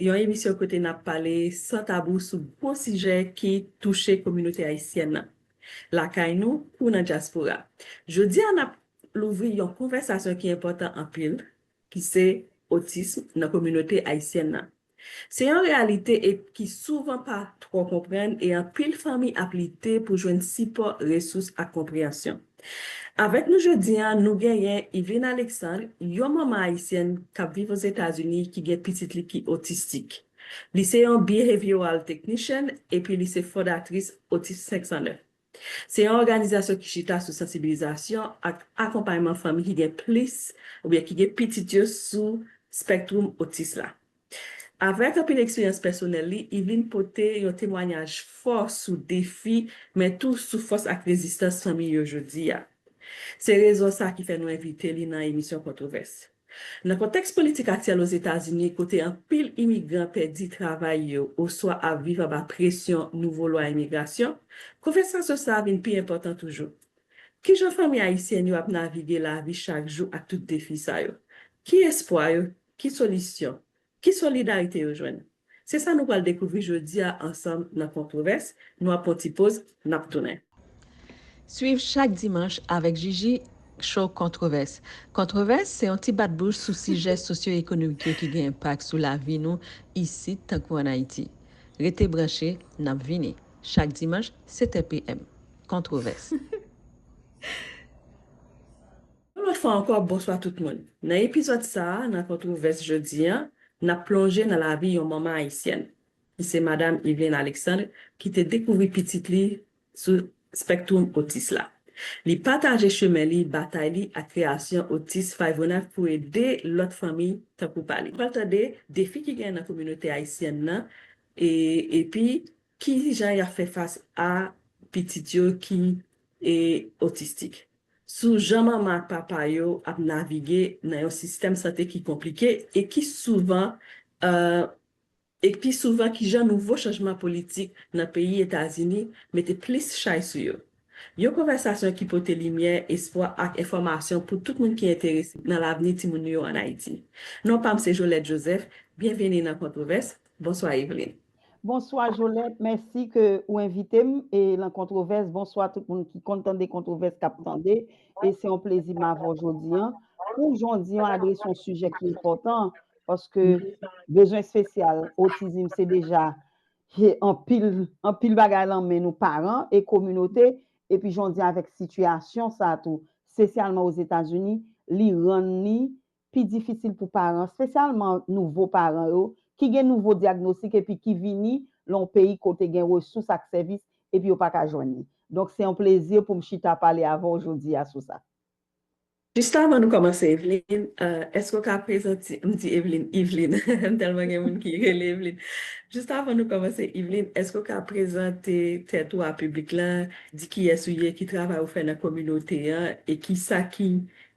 Yon emisyon kote n ap pale san tabou sou gwo sijè ki touche kominote ayisyèn nan, lakay nou kou nan dyaspora. Jodi a n ap louvri yon konvèsasyon ki enpòtan anpil, ki se otism nan kominote ayisyèn nan. Se yon reyalite e ki souvan pa twò konprann e anpil fanmi ap lite pou jwenn sipò, resous ak konpreyansyon. Avèk nou jodi a nou genyen Yveline Alexandre, yon manman ayisyèn k ap viv Ozetazini ki gen pitit li ki otistik. Li se yon Behavioral Technician epi li se fondatris Autisme 509. Se yon òganizasyon ki chita sou sansibilizasyon ak akonpayman fanmi ki gen plis oubyen ki gen pitit yo sou spectrum otis la. Avèk anpil eksperyans pèsonèl li, Yveline pote yon temwanyaj fò sou defi men tou sou fòs ak rezistans fanmi yo jodi a. Se rezon sa ki fè nou envite li nan emisyon Kontwovès. Nan kontèks politik aktyèl Ozetazini kote anpil imigran pèdi travay yo oswa ap viv anba presyon nouvo lwa imigrasyon, konvèsasyon sa vin pi enpòtan toujou. Kijan fanmi ayisyèn yo ap navige lavi chak jou ak tout defi sa yo? Ki espwa yo Ki solisyon? Ki solidarite yo jwenn? Se sa nou pral dekouvri jodi a ansanm nan Kontwovès, nou ap pran yon ti poz, n ap tounen. Swiv chak dimanch avèk Jiji Show Kontwovès. Kontwovès se yon ti bat bouch sou sijè sosyoekonomik yo ki gen enpak sou lavi nou isit tankou an Ayiti. Rete branche, n ap vini. Chak dimanch, 7 è PM. Kontwovès. Yon lòt fwa ankò bonswa tout moun. Nan epizòd sa a nan Kontwovès jodi an, n ap plonje nan lavi yon manman ayisyèn, ki se Madam Yveline Alexandre ki te dekouvri pitit li sou spectrum otis la. Li pataje chemen li, batay li ak kreyasyon Otis Fayvonav pou ede lòt fanmi tankou pa li. Pral tande defi ki gen nan kominote ayisyèn nan e epi Ki jan y ap fè fas a pitit yo ki otistik? Sou jan manman ak papa yo ap navige nan yon sistèm sante ki konplike e ki souvan e pi souvan ki jan nouvo chanjman politik nan peyi Etazini mete plis chay sou yo. Yon konvèsasyon ki pote limyè, espwa ak enfòmasyon pou tout moun ki enterese nan lavni timoun nou yo an Ayiti. Non pa m se Jolèt Jozèf, byenveni nan Kontwovès, bonswa Evelyne. Bonswa Jolèt mèsi ke ou envite m e lan kontwovès bonswa tout moun ki konn tande kontwovès kap tande e se yon plezi m avè w jodi an pou w jondi an adrese yon sijè ki enpòtan paske bezwen espesyal otizim se deja he anpil anpil bagay lan men nou paran e kominote epi jondi an avèk sitiyasyon sa tou spesyalman Ozetazini li rann ni pi difisil pou paran, spesyalman nouvo paran yo, ki gen nouvo dyagnostik epi ki vini lan yon peyi kote gen resous ak sèvis epi yo pa ka jwenn li. Donk se yon plezi pou m chita pale avè w jodi a sou sa. Jis avan nou kòmanse Evlin, èske w ka prezante, m di Evlin, Yvelin, m tèlman gen moun ki rele Evlin. Jis avan nou kòmanse Yvelin, èske w ka prezante tèt ou a piblik lan, di kiyès ou ye, ki travay ou fè nan kominote an e kisa ki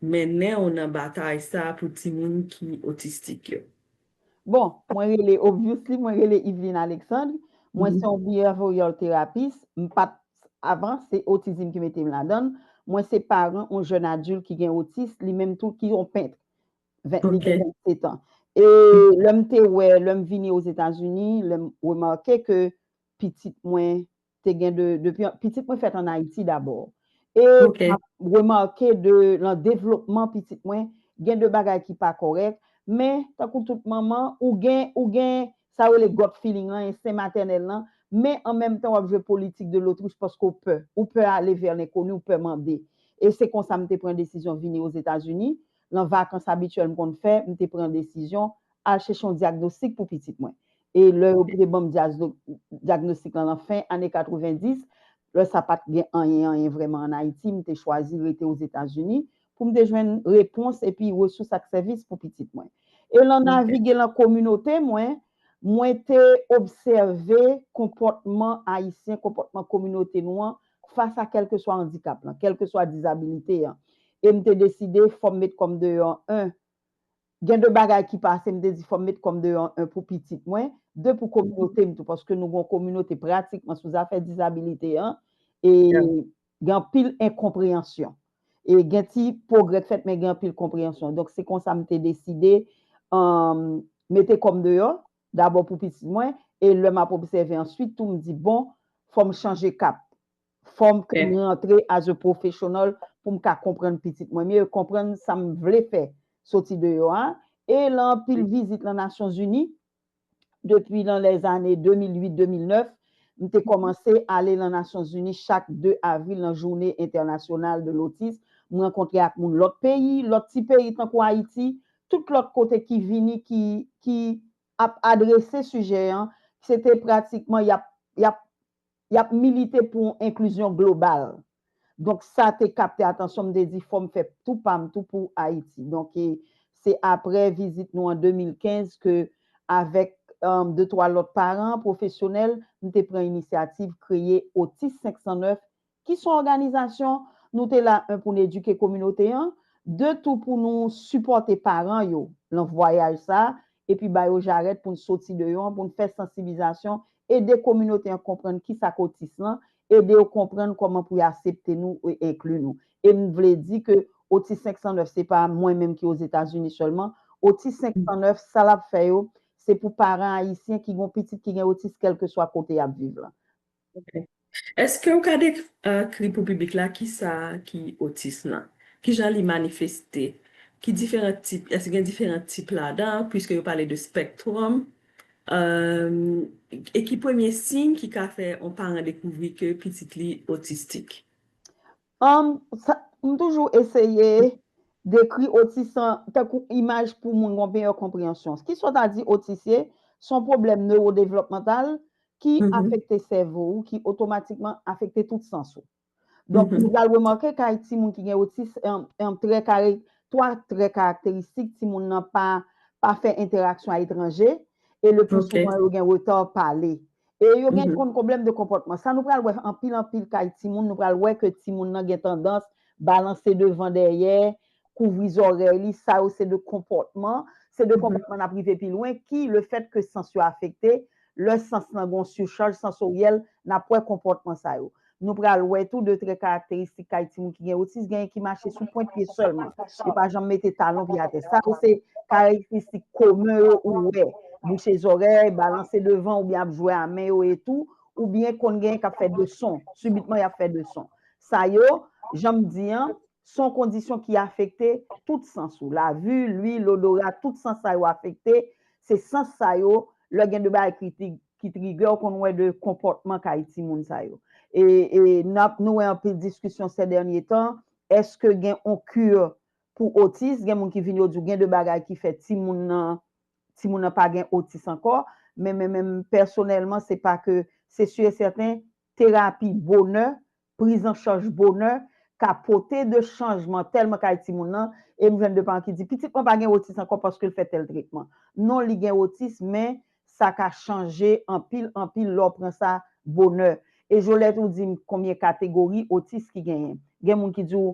Mennen w nan batay sa pou timoun ki otistik yo. Bon, mwen rele obviously mwen rele Yveline Alexandre, mwen se yon behavioral therapist, m pat avan se otizim ki mete m ladan l, mwen se paran yon jèn adilt ki gen otis li menm tou ki yon pent li gen 27 an. E lè m te wè lè m vini Ozetazini lè m remake ke pitit mwen te gen de, depi, pitit mwen fèt an Ayiti dabò. E map remake de lan devlopman pitit mwen, gen de bagay ki pa kòrèk, men tankou tout manman, ou gen, ou gen sa yo rele gut feeling lan, ensten matènèl lan, men an menm tan wap jwe politik de lotwich paske w pè. Ou pè ale vè lenkoni, ou pè mande. E se konsa m te pran desizyon vini Ozetazini, lan vakans abityèl m konn fè, m te pran desizyon al chèche yon dyagnostik pou pitit mwen. E lè yo te ban m dyagnostik lan nan fen ane 90, lè sa pa t gen anyen anyen vrèman ann Ayiti, m te chwazi rete Ozetazini pou m te jwenn repons epi resous ak sèvis pou pitit mwen. E lan navige lan kominote mwen, mwen te obsève konpòtman Ayisyen, konpòtman kominote nou an fas a kèlkeswa andikap lan, kèlkeswa dizabilite an. E m te deside fò m met kò m deyò 1. Gen de bagay ki pase m te di fò m met kò m deyò 1 pou pitit mwen, 2 pou kominote m tou paske nou gen yon kominote pratikman sou zafè dizabilite an e gen anpil enkonpreyansyon. E gen ti pwogrè k fèt men gen anpil konpreyansyon. Donk se konsa m te deside mete kò m deyò dabò pou pitit mwen e lè m ap obsève answit tou m di bon fò m chanje kap. Fòm ke m rantre as a professional pou m ka konprann pitit mwen mye, konprann sa m vle fè soti deyò a. E lan anpil vizit lan Nasyon Zini, depi lan lè zane 2008, 2009, m te kòmanse ale lan Nasyon Zini chak 2 avril lan Journée Internationale de l'Autisme, m rankontre ak moun lòt peyi, lòt ti peyi tankou Ayiti, tout lòt kote ki vini ki ki ap adrese sijè an, se te pratikman y ap y ap Y ap milite pou yon enklizyon global. Donk sa te kapte atansyon m, m te di fò m fè tou pa m tou pou Ayiti. Donk e se aprè vizit nou an 2015 ke avèk de twa lòt paran, pwofesyonèl, m te pran inisyativ kreye Otis 509 ki son òganizasyon nou te la 1 pou n edike kominote an, 2 tou pou nou sipòte paran yo lan vwayaj sa epi ba yo jarèt pou n soti deyò an pou n fè sansiblizasyon, ede kominote an konprann kisa k otis lan, ede yo konprann kòman pou y asepte nou e enkli nou. E m vle di ke Otis 509 se pa mwen menm ki Ozetazini sèlman, Otis 509 sa l ap fè yo se pou paran ayisyen ki gen yon pitit ki gen otis kèlkeswa kote y ap viv lan. Ok. Eske ou ka dekri pou piblik la ki sa ki otism lan? Ki jan li manifeste? Ki diferan tip, eske gen diferan tip ladan, pwiske yo pale de spectrum? Ehm, e ki premye siy ki ka fè yon paran dekouvri ke pitit li otistik? Humm sa m toujou eseye dekri otis an tankou imaj pou moun gon meyè konpreyansyon. Ki sa w ta di otis ye? Se yon pwoblèm newodevlòpmantal ki afekte sèvo ou ki otomatikman afekte tout sans ou. Donk nou pral remake kay timoun ki gen otis humm trè kare 3 trè karakteristik timoun nan pa pa fè entèraksyon a etranje e le pli souvan yo gen reta pale. E yo gen konn pwoblèm de konpòtman. Sa nou pral wè anpil anpil kay timoun, nou pral wè ke timoun nan gen tandans balanse devan dèyè, kouvri zòrèy li, sa yo se de konpòtman, se de konpòtman nap rive pi lwen ki le fèt ke sans yo afekte, lè sans lan gen yon sichaj sansoryèl nap wè konpòtman sa yo. Nou pral wè tou de trè karakteristik kay timoun ki gen otis, genyen ki mache sou pwent pye sèlman, yo pa janm mete talon pye atè. Sa yo se karakteristik komen yo ou wè, bouche zòrèy, balanse devan oubyen ap jwe a men yo e tou, oubyen konn genyen k ap fè de son, sibitman y ap fè de son. Sa yo, jan m di an, son kondisyon ki afekte tout sans ou, lavi, lwi, lodora, tout sans sa yo afekte, se sans sa yo, lè gen de bagay kritik, ki trigè ou konn wè de konpòtman kay timoun sa yo e nap nou wè anpil diskisyon sè dènye tan eske gen on kur pou otis gen moun ki vin yo di ou gen de bagay ki fè timoun nan timoun nan pa gen otis ankò men men menm pèsonèlman se pa ke se sur e sèten terapi bonè prizancharj bonè ka pote de chanjman tèlman kay timoun nan, e m jwenn de paran ki di, pitit mwen pa gen otis ankò paske l fè tèl tretman. Non li gen otis men sa ka chanje anpil anpil lè w pran sa bonè. E Jolette ou di m konbyen kategori otis ki genyen. Gen moun ki di w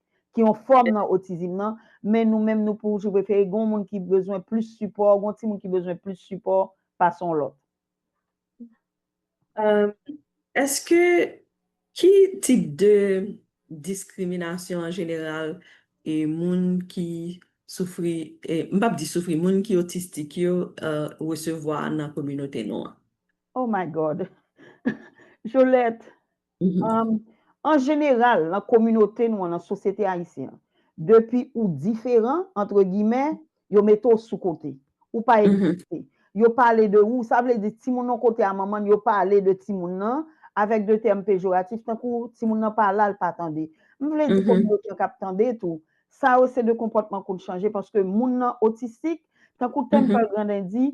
ki yon fòm nan otizm nan, men nou menm nou pou jou prefere gen yon moun ki bezwen plis sipò, gen yon ti moun ki bezwen plis sipò pase yon lòt. Eske ki tip de diskriminasyon an jeneral e moun ki soufri, m pap di soufri, moun ki otistik yo resevwa nan kominote nou an? Oh my God! Jolèt! An jeneral, nan kominote nou an, nan sosyete ayisyen an, depi ou diferan, antre gimè, yo mete w sou kote. Ou pa egziste. Yo pale de ou, sa vle di timoun yon kote a manman l, yo pale de timoun nan avèk de tèm pejoratif tankou timoun nan pa la, l pa tande. M vle di kominote an k ap tande tou, sa yo se de konpòtman konn chanje paske moun nan otistik, tankou tèm Pal Grandin di,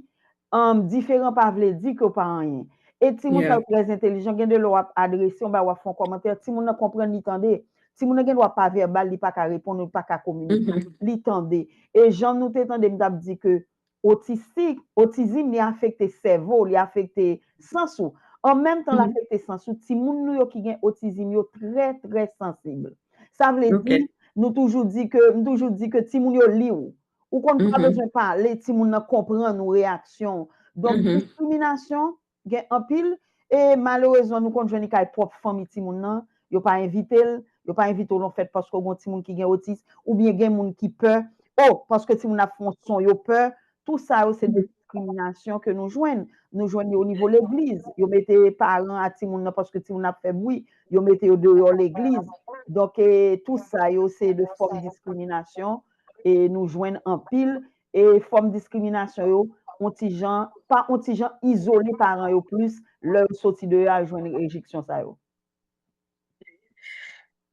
Humm diferan pa vle di ke w pa anyen. E timoun sa yo trè entelijan, gen de lè w ap adrese yon bagay, w ap fè yon kòmantè, timoun nan konprann li tande. Timoun nan gen dwa pa vèbal, li pa ka reponn ou, li pa ka kominike, li tande. E jan nou te tande m t ap di ke otistik, otizim li afekte sèvo w, li afekte sans ou. An menm tan l afekte sans ou, timoun nou yo ki gen otizim yo trè trè sansib. Sa vle di, nou toujou di ke, m toujou di ke timoun yo li w. Ou konn pa bezwen pale, timoun nan konprann ou, reyaksyon ou. Donk diskriminasyon gen anpil e malerezman nou konn jwenn li kay pwòp fanmi timoun nan, yo pa envite l, yo pa envite w nan fèt paske ou gen yon timoun ki gen otis oubyen gen moun ki pè, o paske timoun nan ap fè yon son yo pè, tou sa yo se diskriminasyon ke nou jwenn. Nou jwenn li o nivo legliz, yo mete paran a timoun nan paske timoun nan ap fè bwi, yo mete yo deyò legliz. Donk tou sa yo se de fòm diskriminasyon e nou jwenn anpil e fòm diskriminasyon yo on ti jan, pa on ti jan izole paran yo plis lè yo soti deyò al jwenn rejeksyon sa yo.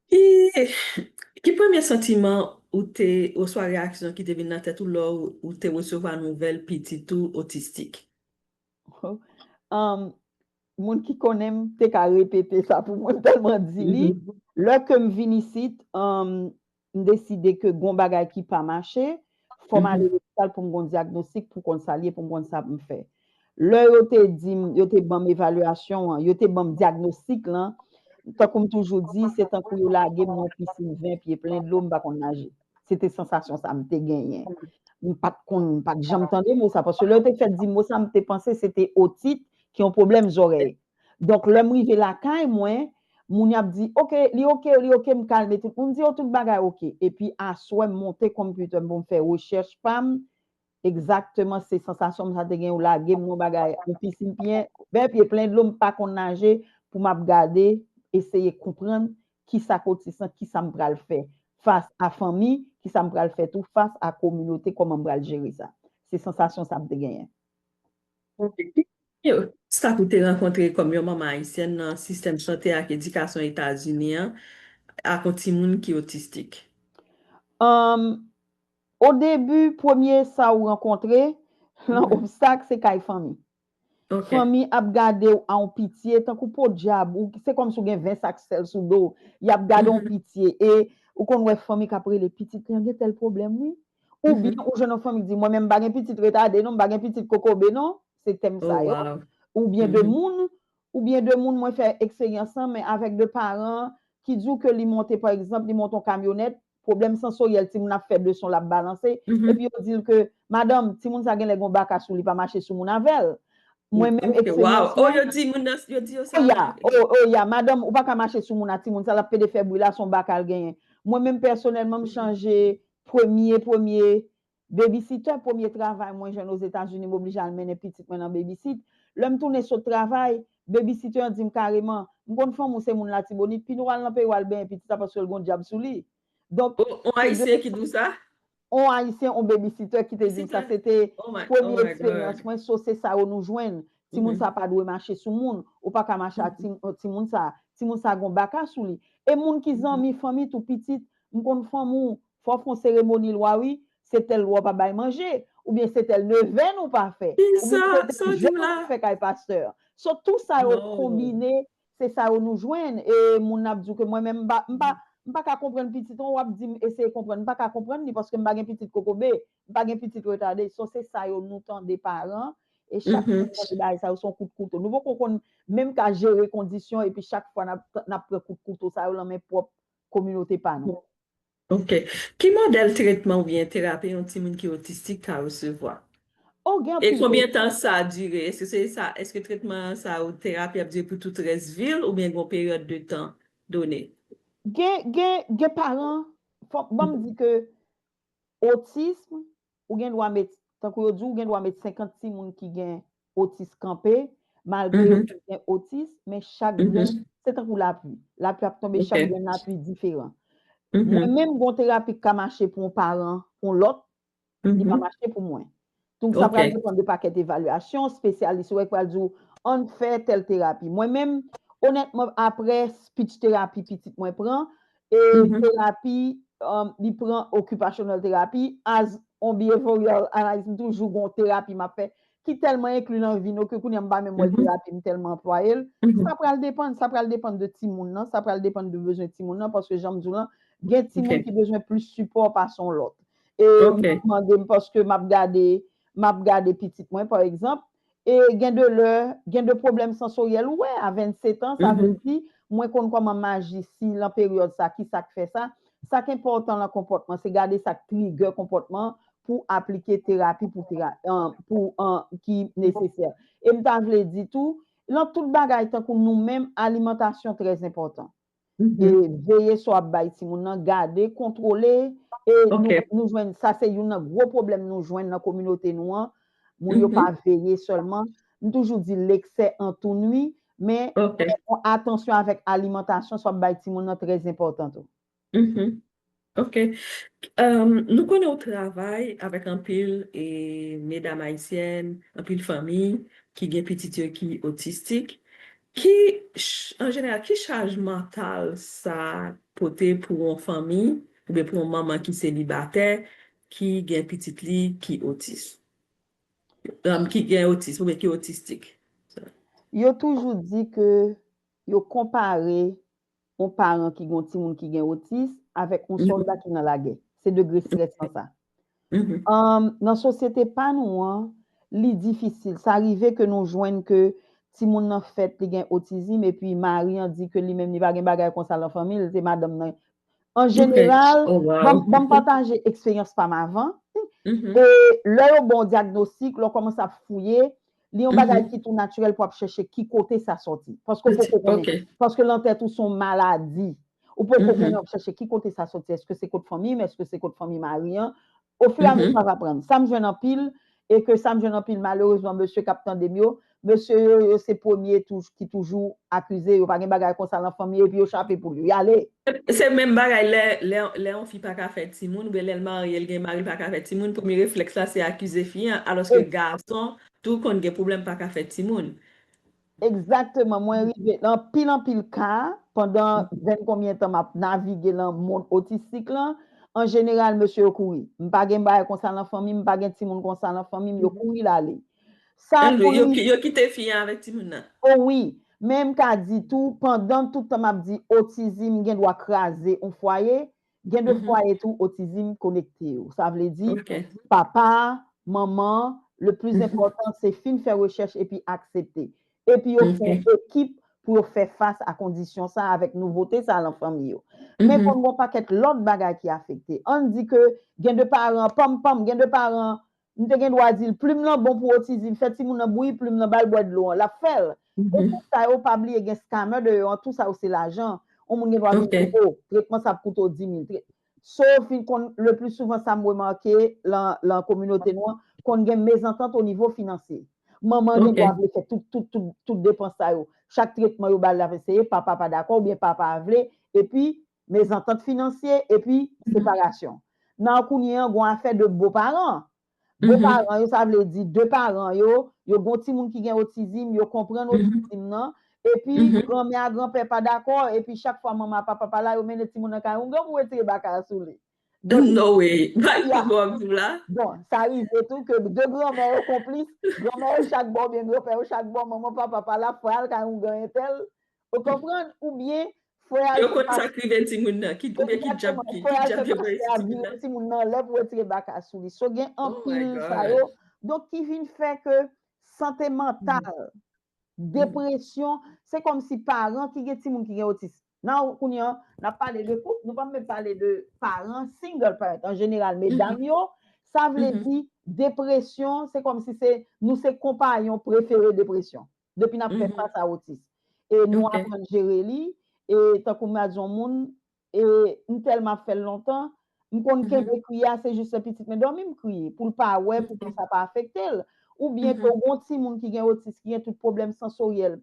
Ki Ki premye santiman ou te oswa reyaksyon ki te vin nan tèt ou lè ou te resevwa nouvèl pitit ou otistik? Humm moun ki konnen m te ka repete sa pou mwen m tèlman di li. Lè ke m vin isit, m deside ke gon bagay ki pa mache, fò m ale lopital pou m gon dyagnostik pou konn sa l ye, pou m konn sa pou m fè. Lè yo te di m, yo te ban m evalyasyon an, yo te ban m dyagnostik lan, tankou m toujou di, se tankou yo lage m nan yon pisin 20 pye plen dlo, m pa konn naje. Se te sansasyon sa m te genyen. M pa t konn, m pa t janm tande mo sa, paske lè yo te fèk di m mo sa, m te panse se te otit ki yon pwoblèm zòrèy. Donk lèm rive lakay mwen, moun ap di ok li ok li ok m kalme tout moun di yo tout bagay ok epi aswè m monte computer m pou m fè rechèch pa m egzakteman se sansasyon m sa te gen yo lage m nan yon bagay yon pisin pyen bè pye plen dlo m pa konn naje pou m ap gade eseye konprann kisa k otis lan kisa m pral fè fas a fanmi kisa m pral fè tou fas a kominote kòman m pral jere sa se sansasyon sa m te genyen. Obstak ou te rankontre kòm yon manman ayisyèn nan sistèm sante ak edikasyon Etazini an ak yon timoun ki otistik? Odebi, premye sa ou rankontre lan obstak se kay fanmi. Fanmi ap gade ou a yon pitye tankou podyab, se kòmsi ou gen 20 sak sèl sou do w. Y ap gade w yon pitye e ou konn wè fanmi k ap rele pitit lan gen tèl pwoblèm wi. Ou byen ou jwenn yon fanm ki di mwen menm m pa gen pitit retade non, m pa gen pitit kokobe non, se tèm sa yo. Ou byen de moun, ou byen de moun mwen fè eksperyans lan men avèk de paran ki di w ke li monte pa egzanp, li monte yon kamyonèt, pwoblèm sansoryèl timoun ap fè leson l ap balanse, epi yo di l ke madanm timoun sa genlè gen yon baka sou li pa mache sou moun avè l. Mwen menm eksperyans mwen. Yo di moun nan, yo di yo sa vre. O ya, madanm ou pa ka mache sou moun a timoun sa l ap pede fè bri la se yon baka l genyen. Mwen menm pèsonèlman m chanje Premye premye Babysitter premye travay mwen jwenn Ozetazini m oblije al mennen pitit mwen nan babysit. Lè m tounen sot travay, babysitter an di m kareman, M konn fanm ou se moun Latibonit, pini w al nan peyi w al benyen pitit la paske l gon dyab sou li. Donk, On se Ayisyen ki di w sa? On Ayisyen, on babysitter ki te di m sa. Se te premye eksperyans mwen. So, se sa yo nou jwenn. Timoun sa pa dwe mache sou moun. Ou pa ka mache ak timoun sa. Timoun sa gon baka sou li. E moun ki zanmi, fanmi tou, pitit, M konn fanm ou fò fon seremoni lwa wi se tèl lwa w pa bay manje ou byen se tèl nevèn ou pa fè ou byen se tèl jèn ou pa fè kay pastè so tou sa yo konbine se sa yo nou jwenn e moun ap di w ke mwen menm m pa m pa ka konprann pitit ou wap di m eseye konprann m pa ka konprann li paske m pa gen pitit kokobe m pa gen pitit retade so se sa yo nou tande paran e chak fwa nou tande bagay sa yo se yon kout kouto nou poko konn menm ka jere kondisyon epi chak fwa nap pran kout kouto sa yo lan men pwòp kominote pa nou. Ok. Ki modèl tretman oubyen terapi yon timoun ki otistik ka resevwa? Oh gen anpil. E konbyen tan sa dire? Eske se sa, eske tretman sa ou terapi ap dire pou tout rès vi l oubyen gen yon peryòd de tan done? Gen gen gen paran, fò banm di ke otism Ou gen dwa met, tankou yo di ou gen dwa met 50 timoun ki gen otis kanpe, malgre yo tout gen otis, men chak grenn, se tankou lapli. Lapli ap tonbe, chak grenn lapli diferan. Mwen menm gon terapi ki ka mache pou yon paran, pou yon lòt, li pa mache pou mwen. Donk sa pral depann de pakèt evalyasyon, spesyalis yo ki pral di ou, an n fè tèl terapi. Mwen menm, onètman aprè speech terapi pitit mwen pran, E terapi li pran occupational terapi as on behavioral analyst m toujou gon terapi map fè ki tèlman enkli nan vi nou ke kounye a m pa menm wè terapi m tèlman anplwaye l sa pral depann sa pral depann de timoun nan sa pral depann de bezwen timoun nan paske jan m di w lan gen timoun ki bezwen plis sipò pase yon lòt e m mande m paske map gade map gade pitit mwen pa egzanp E gen de lè, gen de pwoblèm sansoryèl ou wè a 27 an, sa vle di, mwen konn kòman maji si lan peryòd sa, ki sa k fè sa. Sa k enpòtan lan konpòtman, se gade sa k trigè konpòtman pou aplike terapi pou tera, pou an, ki nesesè. E m ta vle di tou, lan tout bagay tankou nou menm, alimantasyon trèzenpòtan. e veye sa w ap bay timoun nan, gade, kontwole, e nou jwenn, sa se youn nan gwo pwoblèm nou jwenn nan kominote nou an, moun yo pa veye sèlman, m toujou di leksè antou nwi, men atansyon avèk alimantasyon sa w ap bay timoun nan trèzenpòtan tou. Ok Nou konnen ou travay avèk anpil medam ayisyèn, anpil fanmi ki gen pitit yo ki otistik ki an jeneral ki chaj mantal sa pote pou yon fanmi oubyen pou yon manman ki selibatè ki gen pitit li ki otis ki gen otis oubyen ki otistik? Yo toujou di ke yo konpare yon paran ki gen yon timoun ki gen otis avèk yon sòlda ki nan lagè. Se degre strès lan sa. Nan sosyete pa nou an, li difisil. Sa rive ke nou jwenn ke timoun nan fèt, li gen otizim epi mari an di ke li menm li pa gen bagay konsa lan fanmi l, se madanm nan. An jeneral, banm pataje eksperyans pa m avan. Lè yo ba w dyagnostik, lè w kòmanse ap fouye, Li yon bagay ki tou natirèl pou ap chèche ki kote sa sòti. Paske ou poko konnen. Paske lan tèt ou son maladi. Ou poko konnen ap chèche ki kote sa sòti. Eske se kot fanmi m? Eske se kot fanmi mari an? O fur et à mesure wap aprann. Sa m jwenn anpil, e ke sa m jwenn anpil malerezman mesye kap tande m yo, mesye yo yo se premye ki toujou akize yo pa gen bagay konsa lan fanmi yo epi yo chape poul yo. Yale! Se menm bagay lè lè yon fi paka fè timoun oubyen lèl marye l gen mari li paka fè timoun premye reflèks la se akize fi an alòske gason tou konn gen pwoblèm paka fè timoun. Egzakteman mwen rive nan anpil anpil ka pandan vin konbyen tan map navige nan mond otistik lan anjeneral mesye yo kouri m pa gen bagay konsa nan fanmi m pa gen timoun konsa nan fanmi m yo kouri lale Sa pou li. Anmweyy yo kite fi an avèk timoun nan. Oh wi, men m ka di tou pandan tout tan map di otizim gen dwa kraze on fwaye, gen de fwaye tou otizim konekte yo. Sa vle di papa, manman, le plis enpòtan se fin fè rechèch epi aksepte. Epi yo fè ekip pou yo fè fas a kondisyon sa avèk nouvote sa lan fanmi yo. Men konn gon pakèt lòt bagay ki afekte. Ann di ke gen de paran, pam pam, gen de paran M te gen dwa di l, Plim lan bon pou otizin, fè timoun nan bouyi plim lan ba l bwè dlo an, l ap fè l. Pou tout sa yo, pa bliye gen scammer deyò an, tou sa yo se lajan. On moun gen dwa di w, O, tretman sa ap koute w di mil. So fin konn, le pli souvan sa m remake lan lan kominote nou an, konn gen mezantant o nivo finansye. Manman gen dwa vle fè tout tout tout tout depans sa yo. Chak tretman yo ba l l ap eseye, papa pa dakò oubyen papa a vle, epi mezantant finansye epi separasyon. Nan kounye an gon afè de bo paran. Bo paran yo sa vle di de paran yo, yo gon timoun ki gen otizim, yo konprann otizim nan, epi granmè a granpè pa dakò, epi chak fwa manman a papa pa la yo mennen timoun nan kay yon gran pou wetire baka a sou li. Donk, No way! Bay m konn sa w ap di m la. Bon, sa rive tou ke de granmè yo konplis, granmè yo chak bò oubyen granpè yo chak bò, manman papa pa la, fwa al kay yon gran entèl, Ou konprann ou byen fwe a Yo konn sak rive timoun nan ki ou byen ki dyab ki ki dyab yo voye sou timoun nan. Timoun nan lè pou retire baka sou li so gen anpil sa yo donk ki vin fè ke sante mantal depresyon se kòm si paran ki gen timoun ki gen otis nan ou kounye an nap pale de koup nou pap menm pale de paran single parent an jeneral medam yo sa vle di depresyon se kòm si se nou se konpayon prefere depresyon. depi nap fè fas a otis e nou aprann jere li e tankou mwen di yon moun e m tèlman ap fèl lontan m konn kenbe kwi a se jis lè pitit mwen dòmi m kwi pou l pa wè pou ke sa pa afekte l ou byen tou gon timoun ki gen otis ki gen tout pwoblèm sansoryèl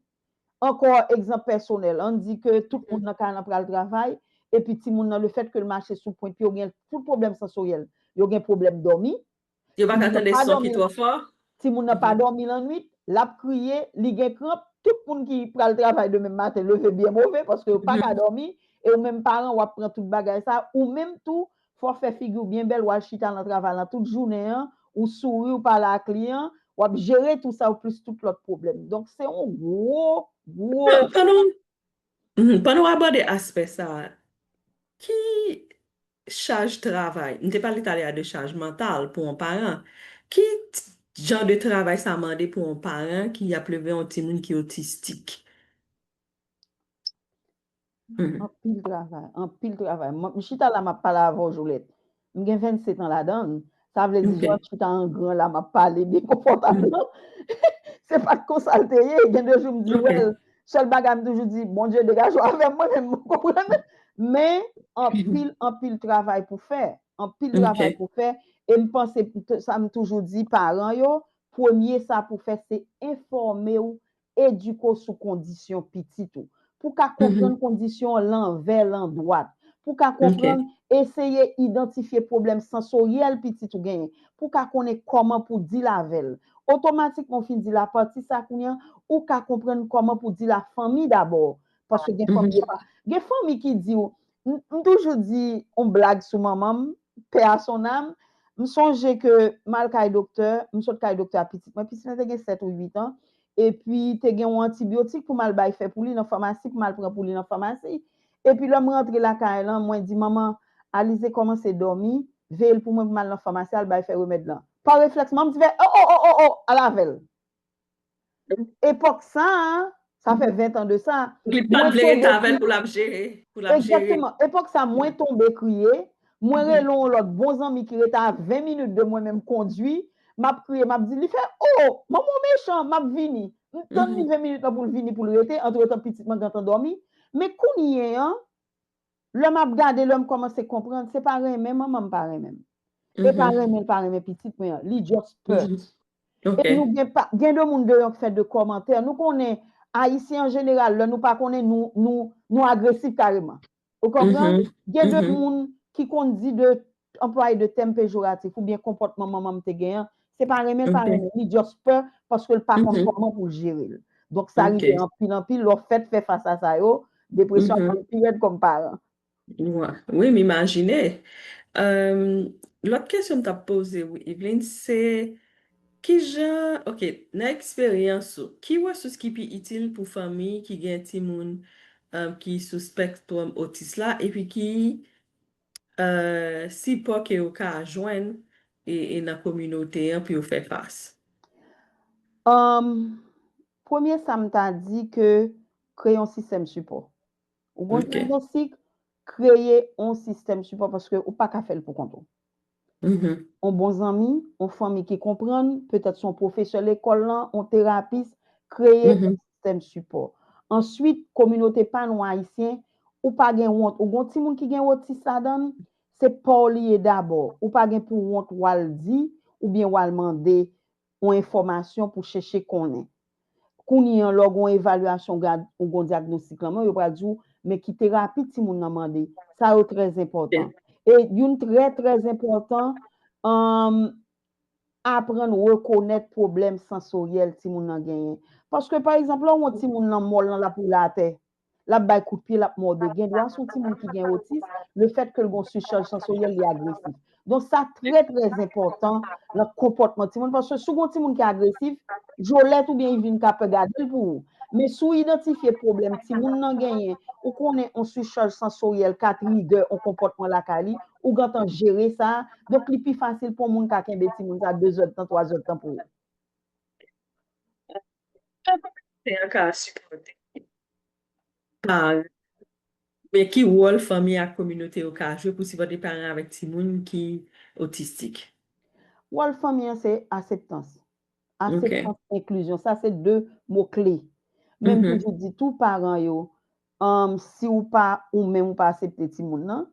ankò egzanp pèsonèl an n di ke tout moun nan kay lan pral travay epi timoun nan lefèt ke l mache sou pwen pye w gen tout pwoblèm sansoryèl yo gen pwoblèm dòmi Yo pa ka tande son ki twò fò. Timoun nan pa dòmi lannwit, l ap kriye, li gen kranp, tout moun ki pral travay demen maten leve byen move paske yo pa ka dòmi e ou menm paran w ap pran tout bagay sa, ou menm tou fò w fè figi w byen bèl w al chita nan travay lan tout jounen an, ou souri ou pale ak li an, w ap jere tou sa ou plis tout lòt pwoblèm. Donk se yon gwo, gwo. Pandan w abòde aspè sa, ki Chaj travay. M te pale talè a de chaj mantal pou on paran. Ki Jan de travay sa mande pou on paran ki ap leve on timoun ki otistik? Hum. Anpil travay, anpil travay. M chita la m ap pale avè w Jolèt. M gen 27 an ladan l, Sa vle di lèm chita an gran la map pale byen konfòtableman. Se pa t konsa l te ye. Gen de jou m di wè l. Sèl bagay m toujou di, Bondye degaje w avè m mwen menm. Ou konprann? Men, anpil, anpil travay pou fè. Anpil travay pou fè. E m panse, sa m toujou di paran yo, premye sa pou fè se enfòme w Edike w sou kondisyon pitit ou. Pou w ka konprann kondisyon an lanvè landwat. Pou w ka konprann, eseye idantifye pwoblèm sansoryèl pitit ou genyen. Pou w ka konnen kòman pou w dil avè l. Otomatikman ou fin dil apati sa kounye an, ou ka konprann kòman pou w dil a fanmi dabò. Paske gen fanmi yo pa. Gen fanmi ki di w, M toujou di yon blag sou manman m, paix à son âme, m sonje ke m al kay doktè, m sot kay doktè a pitit mwen, pitit mwen te gen 7 ou 8 an, epi te gen yon antibiotik pou m al bay fè pou li nan famasi, pou m al pran pou li nan famasi. Epi lè m rantre lakay lan, mwen di manman, Alize kòmanse dòmi, veye l pou mwen pou m al nan famasi al bay fè remèd lan. Pa reflèks manman m di fè, O o o o o, al avè l. Epòk sa a, sa fè 20 tan de sa. Li pa t vle rete avè l pou l ap jere. Egzakteman. Epòk sa a, mwen tonbe kriye, mwen rele yon lòt bon zanmi ki rete a 20 minit de mwen menm kondui, m ap kriye, m ap di, li fè, o, manman w mechan, m ap vini. M tann li 20 minit lan pou l vini pou l rete, antretan pitit mwen gentan dòmi. Men kounye an. Lè map gade lèm kòmanse konprann se pa renmen manmanm pa renmen m e pa renmen l pa renmen pitit mwen an li just pè e nou gen pa gen de moun deyò k fè de kòmantè nou konnen ayisyen an jeneral lè nou pa konnen nou nou nou agresif kareman ou konprann gen de moun ki konn di de anplwaye de tèm pejoratif oubyen konpòtman manman m te gen an, se pa renmen pa renmen, li just pè paske l pa konn kòman pou l jere l. Donk sa rive anpil anpil lè w fèt fè fas a sa yo, depresyon ap vin pi rèd kòm paran. Wi m imajine. Lòt kesyon m t ap poze w Yveline se, kijan, ok, nan eksperyans ou, ki resous ki pi itil pou fanmi ki gen timoun ki sou spectrum otis la epi ki Sipò ke yo ka jwenn nan kominote an pou yo fè fas. Premye sa m ta di ke kreye yon sistèm sipò. Ou gen yon diagnostik, kreye yon sistèm sipò paske ou pa ka fè l pou kont ou. On bon zanmi, on fanmi ki konprann, petèt son pwofesè lekòl lan, on terapis, kreye on sistèm sipò. Answit, kominote pa nou Ayisyen, ou pa gen wont, ou gen on timoun ki gen otis ladan l, se pa w li ye dabò, ou pa gen pou wont w al di, oubyen w al mande on enfòmasyon pou chèche konnen. Kounye an, lè w gen on evalyasyon ou gen ou gen on dyagnostik lanmè w, yo pral di w, men ki terapi timoun nan mande. Sa yo trè zenpòtan. E youn trè trè zenpòtan, aprann rekonèt pwoblèm sansoryèl timoun nan genyen. Paske pa egzanp, lè w wè on timoun lanmò l nan lapoula atè, L ap bay kout pye, l ap mòde. Gendwa se yon timoun ki gen otis, lefètke l gen yon sichaj sansoryèl, li agresif. Donk sa trè trè enpòtan nan konpòtman timoun paske si w gen yon timoun ki agresif, Jolèt oubyen Ivin ka pè gade l pou ou. Men si w idantifye pwoblèm timoun nan genyen, ou konnen yon sichaj sansoryèl ka trigè yon konpòtman lakay li, ou gentan jere sa, donk li pi fasil pou yon moun ka kenbe timoun sa dezèdtan, twazèdtan pou ou. Jan kominote a ka sipòte paran yo. Men ki wòl fanmi ak kominote yo ka jwe pou sipòte paran avèk timoun ki otistik. Wòl fanmi an se aseptans. Aseptans, enklizyon. Sa se 2 mo kle. Men m toujou di tou paran yo, si ou pa ou menm ou pa asepte timoun nan,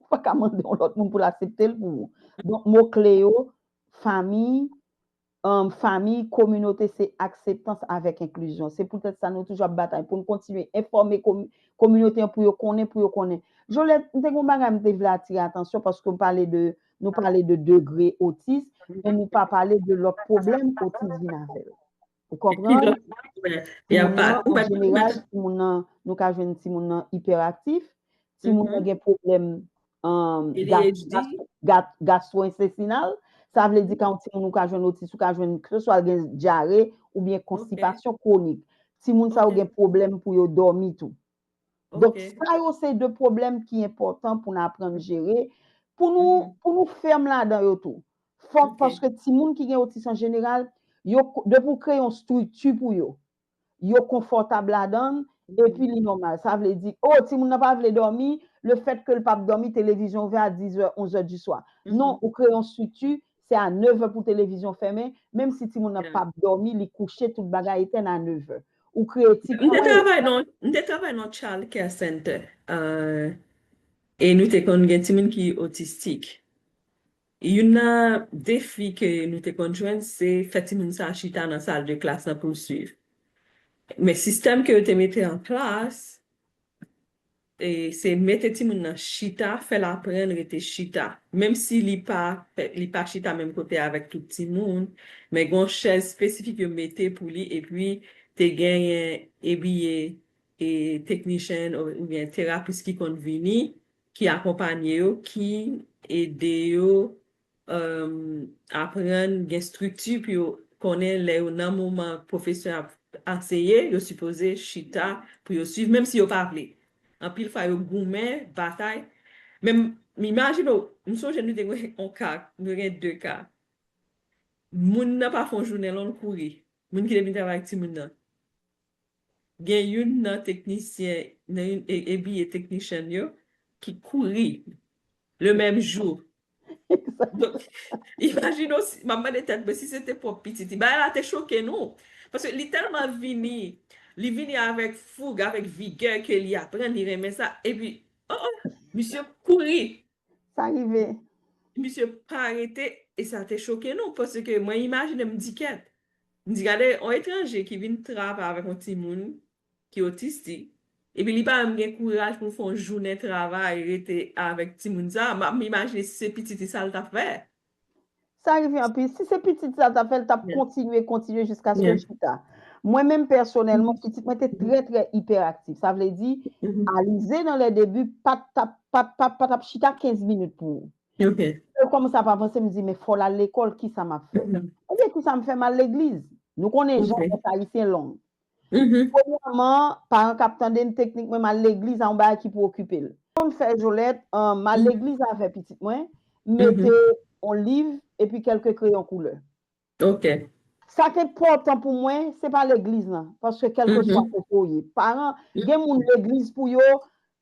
ou pa ka mande yon lòt moun pou l asepte l pou ou. Donk mo kle yo, fanmi, Fanmiy, kominote se akseptans avèk enklizyon. Se poutèt sa nou toujou ap batay pou n kontinye enfòme kominote an pou yo konnen, pou yo konnen. Jolèt, m te gen yon bagay m te vle atire atansyon paske m pale de, nou pale de degre otis, men nou pa pale de lòt pwoblèm otis vin avè l. Ou konprann? An jeneral, timoun nan, nou ka jwenn timoun nan ipèraktif, timoun nan gen pwoblèm Gastro-intestinal, sa vle di kan timoun ou ka jwenn otis, ou ka jwenn kres, ou al gen dyare, ou byen konstipasyon kronik. Timoun sa ou gen problem pou yo domi tou. Donk sa yo se de problem ki important pou nan apren jere, pou nou ferm la dan yo tou. Fok paske timoun ki gen otis an general, yo de pou kreye yon strikti pou yo. yo konfòtab ladan l epi li nòmal. Sa vle di, o, timoun nan pa vle dòmi, lefètke l pa p dòmi, televizyon ouvè a dizè, onzè di swa. Non, ou kreye yon estrikti, se a nevè pou televizyon fèmen, menm si timoun nan pa p dòmi, li kouche, tout bagay etèn a nevè. Ou kreye ti kwen. M te travay nan, m te travay nan Child Care Center, e nou te konn gen timoun ki otistik. Youn nan defi ke nou te konn jwenn se fè timoun sa chita nan sal de klas lan pou l swiv. Men sistèm ke yo te mete an plas, se mete timoun nan chita, fè l aprann rete chita. Menm si li pa li pa chita menm kote avèk tout timoun, men gen yon chèz espesifik yo mete pou li epi te genyen ebiye teknisyen oubyen terapis ki konn vini ki akonpanye yo, ki ede yo aprann gen strikti pou yo konnen lè yo nan moman pwofesè ap anseye, yo sipoze chita pou yo suiv menm si yo pa vle. Anpil fwa yo goumen, batay. Men m imajine w, m sonje nou te gen yon ka, nou te gen 2 ka. Moun nan pa fè yon jounen lan l kouri, moun ki te vin travay ak timoun nan. gen youn nan teknisyen nan youn ebiye teknishan yo ki kouri le menm jou donk imajine w si map mande tèt mwen si se te pwòp pitit li bagay la te choke nou paske li tèlman vini li vini avèk foug avèk vigè ke li aprann li renmen sa epi oh oh misye kouri sa rive. Misye pa rete e sa te choke nou paske mwen imajine m di kèt. M di gade yon etranje ki vin travay avèk yon timoun ki otistik epi li pa menm gen kouraj pou l fè yon jounen travay rete avèk timoun sa, m ap imajine si se pitit li sa l t ap fè. Sa rive anpil. Si se pitit sa ta fè, l tap kontinye, kontinye jiskaske l chita. Mwen menm pèsonèlman, pitit mwen te trè trè ipèraktif. Sa vle di, Alize nan lè debi pat tap, pat tap, pat tap chita 15 minit pou ou. Lè l kòmanse ap avanse, m di men fò l al lekòl, kisa map fè? Ebyen kisa m fè, m al legliz. Nou konnen jan fèt ayisyen long. Premyèman, paran k ap tande m, teknik mwen m al legliz a yon bagay ki pou okipe l. Pou m fè Jolèt, m al legliz avè pitit mwen, m mete yon liv epi kèlke kreyon koulè. Ok. Sa k enpòtan pou mwen, se pa legliz lan, paske kèlkeswa kote w ye, paran, gen moun legliz pou yo,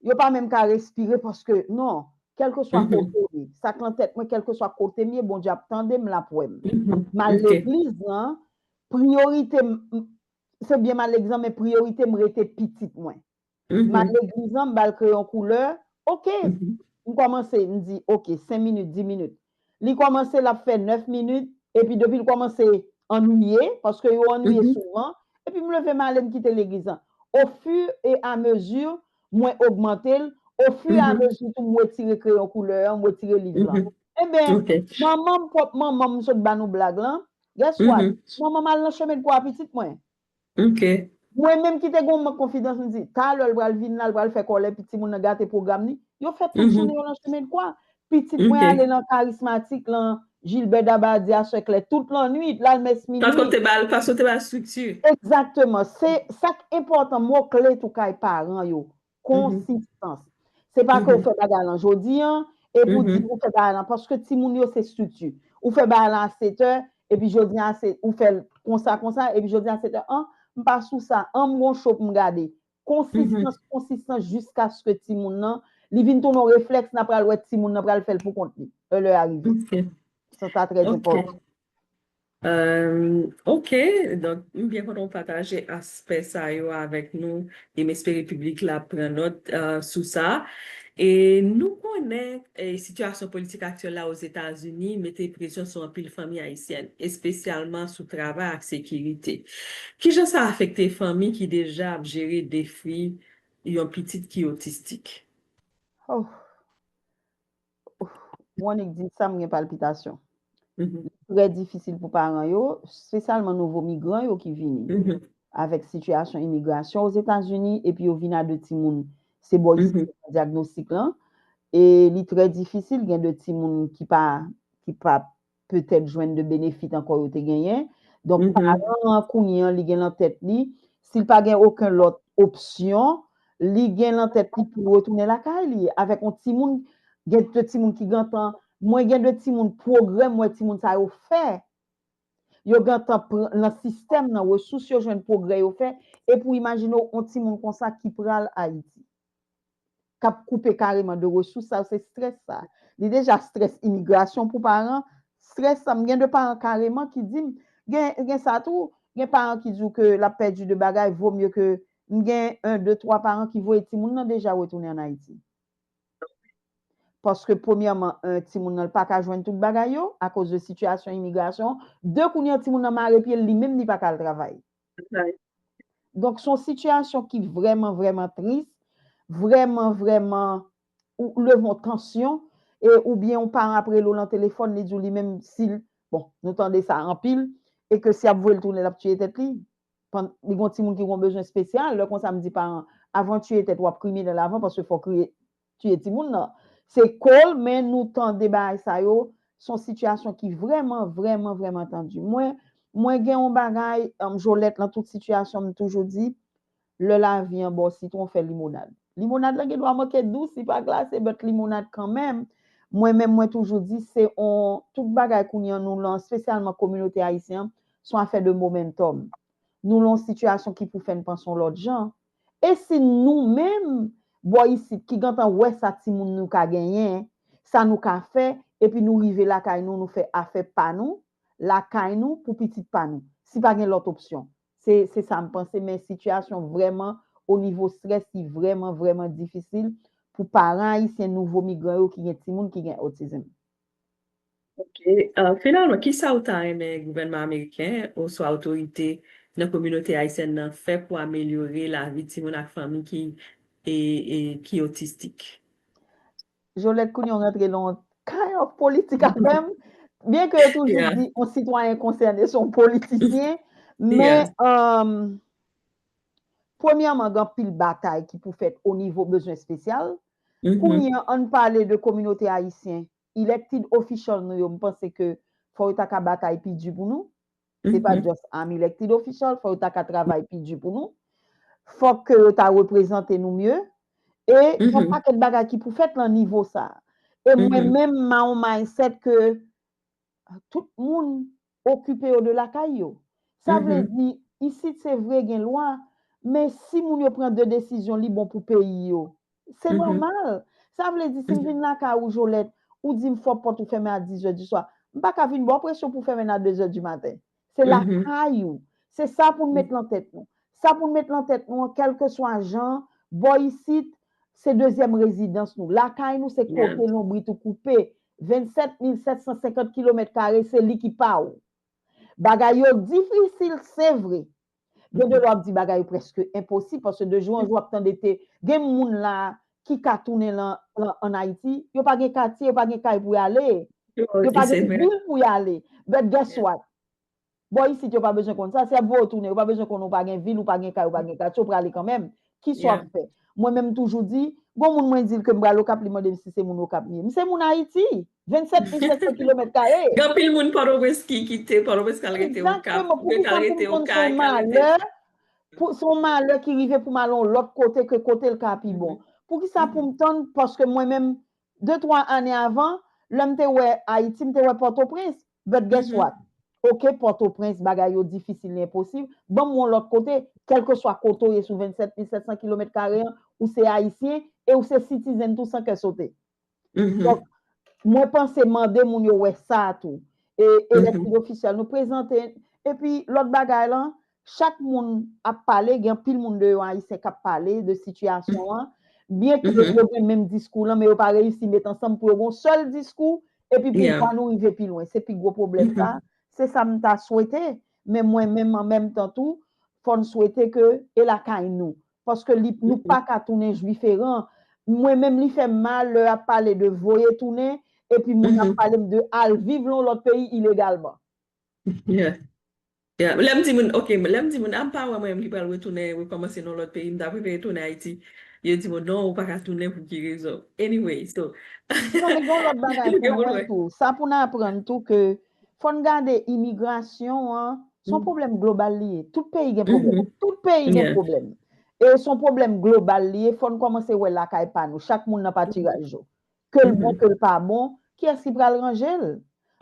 yo pa menm ka respire paske, non, kèlkeswa kote w ye, sa k lan tèt mwen, kèlkeswa kote m ye, Bondye ap tande m, l ap wè m. M al legliz lan, Priyorite m Se byen m al egzan men priyorite m rete pitit mwen. M al legliz lan, m ba l kreyon koulè, ok! M kòmanse, m di ok, 5 minit, 10 minit. Li kòmanse l ap fè 9 minit, epi depi l kòmanse annwiye, paske yo annwiye souvan, epi m leve m ale m kite legliz lan. O fur et à mesure, mwen ogmante l, o fur et à mesure tou m wetire kreyon koulè an, m wetire liv lan. Enben, manman m, pwòp manman m, m sot ba nou blag lan, Guess what? Manman m al nan chemen kwa pitit mwen. Mwen menm ki te gen yon mank konfidans, m di, talè l pral vin la, l pral fè kòlè, pi timoun nan gate pwogram li. Yo fè tout jounen yo nan chemen kwa. Pitit mwen ale nan Karismatik lan, Jilbè Dabadi a, Sè Klè, tout lannuit, l al mès minui. Paske w te ba l estrikti. Egzakteman. Se sa k enpòtan, mo kle tou kay paran yo, Konsistans. Se pa ke ou fè bagay lan jodi an, epi ou di ou fè bagay lan, paske timoun yo se strikti. Ou fè bagay lan a setè, epi jodi an a se, ou fèl konsa konsa, epi jodi an a setè, an, m pa sou sa, an m gon cho pou m gade. Konsistans, konsistans jiskaske timoun nan, li vin tounen yon reflèks nan pral wè timoun nan pral fèl pou kont li, lè lè a rive. Sa sa trè enpòtan. Ok, donk m byen kontan ou pataje aspè sa yo avèk nou e m espere piblik la ap pran nòt sou sa. E nou konnen sitiyasyon politik aktyèl la Ozetazini mete presyon sou anpil fanmi ayisyèn, espesyalman sou travay ak sekirite. Ki jan sa afekte fanmi ki deja ap jere defi yon pitit ki otistik? Wonick di, Sa m gen palpitasyon. Li trè difisil pou paran yo, spesyalman nouvo migran yo ki vini avèk sitiyasyon imigrasyon Ozetazini epi yo vin a 2 timoun. Se bò isi yo fè dyagnostik lan e li trè difisil gen 2 timoun ki pa petèt jwenn de benefit ankò yo te genyen. Donk, paran an kounye an li gen lan tèt li, si l pa gen oken lòt opsyon, li gen lan tèt li pou l retounen lakay li avèk yon timoun, gen de timoun ki gentan, mwen gen de timoun pwogrè m wè timoun sa yo fè, yo gentan pran lan sistèm nan, resous yo jwenn, pwogrè yo fè, e pou imajine w yon timoun konsa ki pral Ayiti. kap koupe kareman de resous sa yo se strès sa li deja strès imigrasyon pou paran strès sa m gen de paran kareman ki dim gen gen sa tou gen paran ki diw ke lap pèdi de bagay vo mye ke m gen 1 2 3 paran ki voye timoun nan deja retounen an ayiti paske premyèman 1 timoun nan l paka jwenn tout bagay yo akoz de sitiyasyon imigrasyon 2 kounye a timoun nan mare pyel li menm li paka al travay Donk son sitiyasyon ki vreman vreman tris, vreman vreman ou leve yon tansyon e ou byen yon paran ap rele w lan telefòn li di w li menm si l, bon nou tande sa anpil e ke si y ap voye l tounen l ap tiye tèt li, pann li gon timoun ki gon bezwen spesyal, lè konsa m di paran avan tiye tèt w ap kriminèl avan paske fò w kriye tiye timoun nan se kol men nou tande bagay sa yo son sitiyasyon ki vreman vreman vreman tandi mwen mwen gen yon bagay m jolet nan tout sitiyasyon m toujou di lè lavi an baw sitwon fè limonad limonad la gen dwa manke dous li pa glase but limonad kanmenm mwen menm mwen toujou di se yon tout bagay kounye an nou lan spesyalman kominote ayisyen an son afè de momentum nou lan yon sitiyasyon ki pou fè n panse yon lot jan E si nou menm, bò isit, ki gentan wè sa timoun nou ka genyen, sa nou ka fè, epi nou rive lakay nou, nou fè afè pa nou, lakay nou, pou pitit pa nou? Si pa gen lòt opsyon. Se, se sa m panse, men sitiyasyon vrèman, o nivo strès, li vrèman, vrèman difisil pou paran ayisyen nouvo migran yo ki gen timoun ki gen autism. Ok, finalman kisa ou ta renmen gouvènman ameriken oswa otorite nan kominote ayisyèn nan fè pou amelyore lavi timoun ak fanmi ki otistik? Jolèt kounye w rantre nan yon kind of politik avè m, byen ke yo toujou di yon sitwayen konsène se yon politisyen, men premyèman gen anpil batay ki pou fèt onivo bezwen espesyal, Kounye an ann pale de kominote ayisyen, elected official nou yo m panse ke fò yo ta ka batay pi di pou nou, se pa just I'm elected official, fò yo ta ka travay pi di pou nou, fòk ke yo ta reprezante nou mye, e yon pakèt bagay ki pou fèt lan nivo sa a. E mwen menm m a on mindset ke tout moun okipe yo de lakay yo. Sa vle di, isit se vre gen lwa, men si moun yo pran de desizyon li bon pou peyi yo, se nòmal. Sa vle di si m vin lakay ou Jolèt, ou di m fò pòt ou fèmen a dizè di swa, m pa ka vin ba w presyon pou w fèmen l a dezè di maten. Se lakay ou. Se sa pou n met lan tèt nou. Sa pou n met lan tèt nou an, kèlkeswa jan, bò isit, se dezyèm rezidans nou. Lakay nou se kote lonbrit ou koupe, 27 mil 750 kilomèt kare se li ki pa ou. Bagay yo difisil se vre. Gen de lè wap di bagay yo preske enposib paske de jou an jou wap tande te gen moun la ki ka tounen lan an Ayiti, yo pa gen katye, yo pa gen kay pou y ale, yo pa gen vil pou y ale. But guess what? Bò isit yo pa bezwen konn sa, se ap voye w tounen, yo pa bezwen konn ou pa gen vil, ou pa gen kay, ou pa gen katye, ou prale kanmenm. Kisa w ap fè? Mwen menm m toujou di, gon moun mwen di l ke m pral Okap li mande m si se moun Okap m ye. M se moun Ayiti! 27500 kilomèt kare! Gen anpil moun Pòtoprens ki kite Pòtoprens k al rete Okap, Egzateman! Poukisa m vin konn se yon malè, se yon malè ki rive pou m al yon lòt kote ke kote l ka pi bon? Poukisa pou m tann, paske mwen menm de twa ane avan, lè m te wè Ayiti, m te wè Pòtoprens. But guess what? Ok Pòtoprens bagay yo difisil li enposib, ban m yon lòt kote, kèlkeswa kote w ye sou 27 mil 700 kilomèt kare an, ou se Ayisyen e ou se citizen tou san kè sote. Donk, mwen panse mande moun yo wè sa tou. E elected official nou prezante, epi lòt bagay lan, Chak moun ap pale, gen anpil moun de yo ayisyen k ap pale de sitiyasyon an, byen ke yo gen menm diskou lan men yo pa reyisi met ansanm pou yo gen yon sèl diskou epi pou vwa nou rive pi lwen. Se pi gwo pwoblèm sa. Se sa m ta swete. Men mwen menm an menm tan tou, fò n swete ke e lakay nou. Paske li nou pa ka tounen jwiferan. Mwen menm li fè m mal lè y ap pale de voye tounen epi moun ap pale m de al viv lan yon lòt peyi ilegalman. Ya, lè m di moun, ok, lè m di moun, a m pa wè mwen menm ki pral retounen, rekòmanse nan yon lòt peyi, m ta prefere tounen Ayiti. Yo di m, o non, ou pa ka tounen pou ki rezon. Anyway, so, Non, men gen yon lòt bagay pou mwen tou. Sa pou n aprann tou ke fò n gade imigrasyon an, se yon pwoblèm global li ye. Tout peyi gen pwoblèm. Tout peyi gen pwoblèm. E se yon pwoblèm global li ye, fò n kòmanse wè lakay pa nou, chak moun nan patiraj yo. ke l bon ke l pa bon, kiyès ki pral ranje l?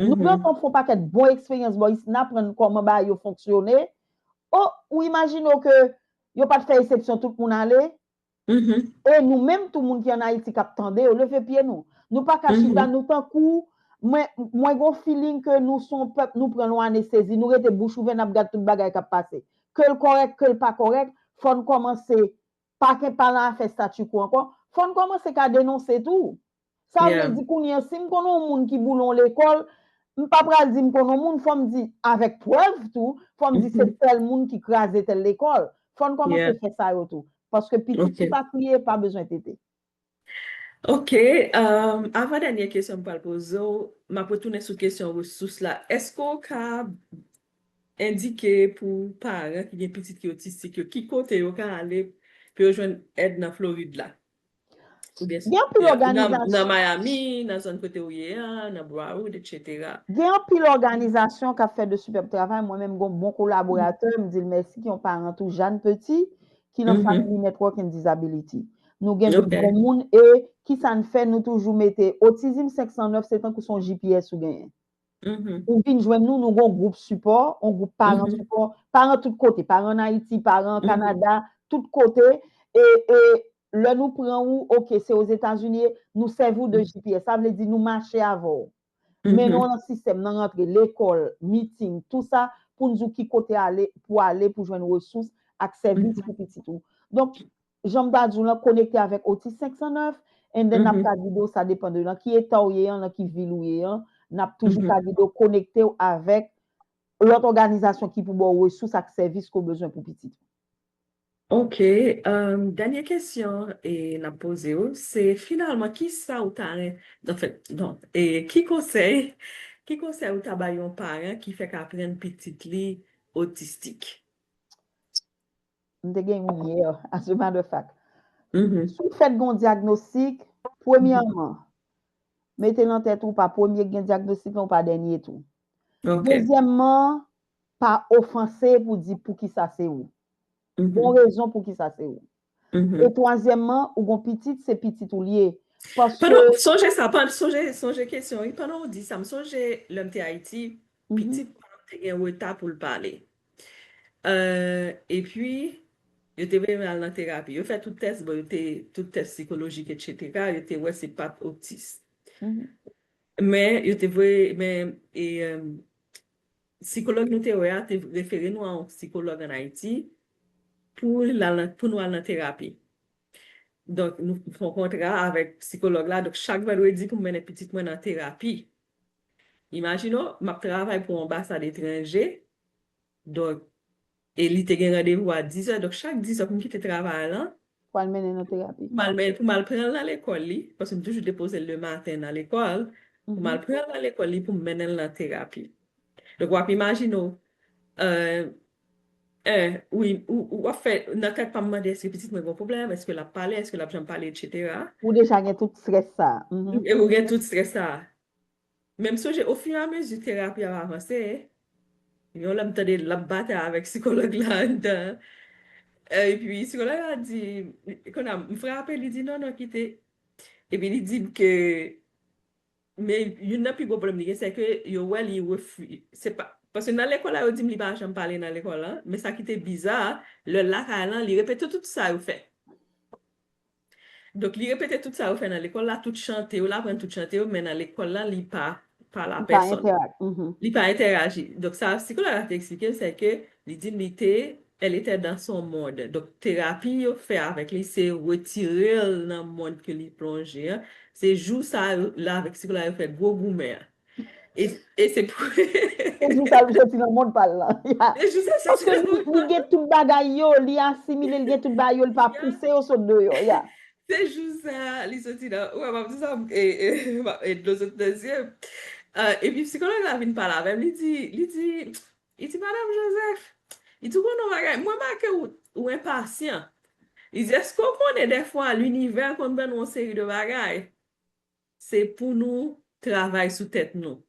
Nou pran konf yon pakèt bon eksperyans bò isit, n aprann kòman bagay yo fonksyone, o, ou imajine w ke yo pa t fè esepsyon tout moun ale? E nou menm tou moun ki an Ayiti k ap tande yo, leve pye nou. Nou pa ka chita, nou tankou, mwen, mwen gen yon feeling ke nou se yon pèp nou pran yon anestezi, nou rete bouch ouvè n ap gad tout bagay k ap pase. Ke l kòrèk, ke l pa kòrèk, fò n kòmanse Pa gen pa lan afè statu quo ankò. Fò n kòmanse ka denonse tou. Sa vle di kounye an si m konnen yon moun ki boule yon lekòl, m pa pral di m konnen yon moun, fò m di avèk prèv tou, fò m di se tèl moun ki kraze tèl lekòl. Fò n kòmanse fè sa yo tou. Paske pitit ki pa kriye pa bezwen tete. Ok, avan dènyè kesyon m pral poze w, m ap retounen sou kesyon resous la. Èske w ka endike pou paran ki gen pitit ki otistik yo ki kote yo ka ale pou yo jwenn èd nan Florid la? Gen anpil òganizasyon. Nan Miami, nan zòn kote ou ye a, nan Broward, etc. Gen anpil òganizasyon k ap fè de sipèb travay. Mwen menm gen yon bon kolaboratè, m di l mèsi, ki yon paran tou, Jane Petit, ki nan Family Network and Disability. Nou gen tout bon moun e ki sa n fè nou toujou mete Autism 509 se tankou se yon GPS ou genyen. Ou vin jwenn nou, nou gen yon gwoup sipò, yon gwoup paran sipò, paran tout kote, paran an Ayiti, paran an Kanada, tout kote e lè nou pran ou, ok se Ozetazini, nou sèvi w de GPS. Sa vle di nou mache avè w. Men nou nan sistèm nan rantre lekòl, meeting, tou sa pou n di w ki kote ale pou ale pou jwenn resous ak sèvis pou pitit ou. Donk, jan m ta di w lan, konekte avèk Otis 509 and then n ap ka gide w sa depan de nan ki eta w ye an, nan ki vil ou ye an, n ap toujou ka gide w konekte w avèk lòt òganizasyon ki pou ba w resous ak sèvis ke w bezwen pou pitit ou. Ok dènye kesyon e nap poze ou se finalman kisa ou ta ren anfen non e ki konsèy ki konsèy ou ta bay yon paran ki fèk aprann pitit li otistik? M te gen youn yè as a matter of fact si w fèt gen yon dyagnostik premyèman mete nan tèt ou pa premye k gen dyagnostik lan ou pa dènye tou dezyèmman Pa ofanse pou di poukisa se ou. Bon rezon poukisa se ou. E twazyèmman, ou gon pitit, se pitit ou li ye. Paske. Sonje sa, sonje kesyon wi. Pandan ou di sa, m sonje lè m te Ayiti, pitit pa m te gen reta pou l pale. E pi, yo te vle l al nan terapi. Yo fè tout tès, bon yo te, tout tès sikolojik etc. Yo te wè se pa t otis. Men, yo te vle, men, e, Sikològ nou te wè a te refere nou a yon sikològ ann Ayiti pou nou al nan terapi. Donk, nou fè yon kontra avèk sikològ la. Donk, chak vandredi pou m mennen pitit mwen nan terapi. Imajine w, m ap travay pou anbasad etranje. Donk, E li te gen randevou a 10 è, donk chak 10 è pou m kite travay lan. Pou al mennen l nan terapi. Pou m al mennen, pou m al pran l nan lekòl li, paske m toujou depoze l le maten nan lekòl, pou m al pran l nan lekòl li, pou m mennen l nan terapi. Donk w ap imajine w, en, wi, w ap fè, nan tèt pa m m mande èske pitit mwen gen yon pwoblèm, èske l ap pale, èske l ap janm pale, etsetera. Ou deja gen tout strès sa a. Ou gen tout strès sa a. Men m sonje ofiramezi terapi ap avanse, yon lè m tande l ap batay avèk sikològ la anndan an, epi sikològ la di, kon a m frape li di non non kite, epi li di m ke, men youn nan pi gwo pwoblèm li gen se ke yo wè li refi, se pa, paske nan lekòl la yo di m li pa janm pale nan lekòl la, men sa ki te biza, lè l lakay lan li repete tout sa yo fè. Donk li repete tout sa yo fè nan lekòl la, tout chante yo, l aprann tout chante yo, men nan lekòl la li pa pale a pèsòn. Li pa entèraji. Donk sa sikològ la te eksplike m se ke li di m li te, elle était dans son monde. Donk terapi yo fè avèk li se retire l nan mond ke li plonje an. Se jou sa yo, l avèk sikològ la yo fè gwo goumen an. E se pou. E jou sa l soti nan mond pa l lan. E jou sa l soti nan mond pa l lan. Paske li gen tout bagay yo, li asimile, li gen tout bagay yo, li pa pouse yo sot deyò, ya. Se jou sa li soti nan, ou wè m ap di sa, e dlo sot nan zye m. E pi psikològ la vin pale avè m, li di, li di, li di, Madam Joseph, li di ou konnen yon bagay, mwen remake ou enpasyan. Li di èske ou konnen dèfwa linivè konn ban nou yon seri de bagay? Se pou nou travay sou tèt nou.